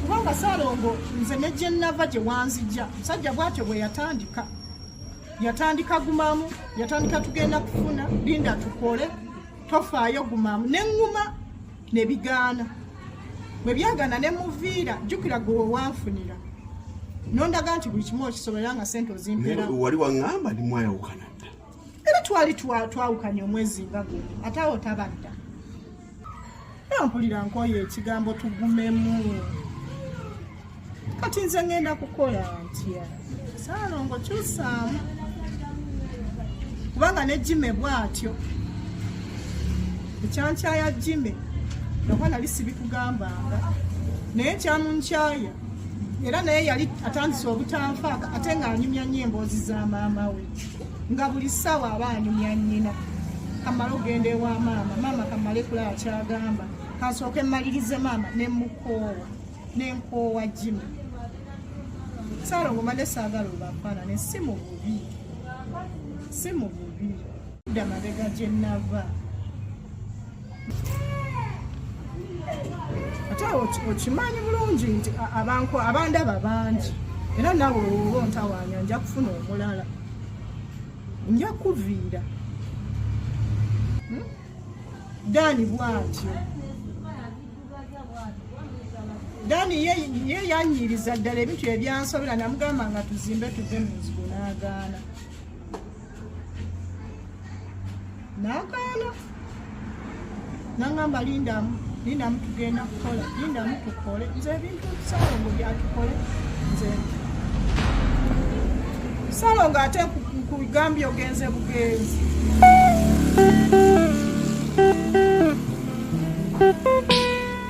kubanga salongo nze negyenava gyewanzija musajja bwatyo bweyatandika yatandika gumamu yatandika tugenda kufuna linda tukole tofaayo gumamu neŋuma nebigaana bwebyagana nemuviira jukira gwe wewanfunira nondaga nti buli kimu okisobola nga sente ozimpera wali waŋamba ndimwayawukana era twali twawukanye omwezi nga gwe ate awo tabadda nampulira nkoyo ekigambo tugumemu kati nze ngenda kukola ntya saalongo kyusaamu kubanga ne jime bwatyo ekyankyaya jime nakuba nali sibikugambanga naye kyamunkyaya era naye yali atandise obutanfaaka ate ng'anyumya nnyo emboozi za maama we nga buli ssaawa aba anyumya nnyina kamala okugenda ewa maama maama kamale kulaba kyagamba kansooke mmalirize maama ne mukoowa ne nkoowa jimu saala ngomade saagala obafaanane si mu bubi si mu bubi dda mabega gye nava ate okimanyi bulungi nti abantu abandaba bangi era nawe olwoba ontawanya nja kufuna omulala nja kuviira hmm? dani bwatyo dani ye yanyiriza ddala ebintu ebyansobera namugamba nga tuzimbe tuve mu nzigo n'agaana nagaana nangamba lindamu lindamu tugenda kukola lindamu tukole nze ebintu salongo byatukole nze salongo ate kugambye ogenze bugenzi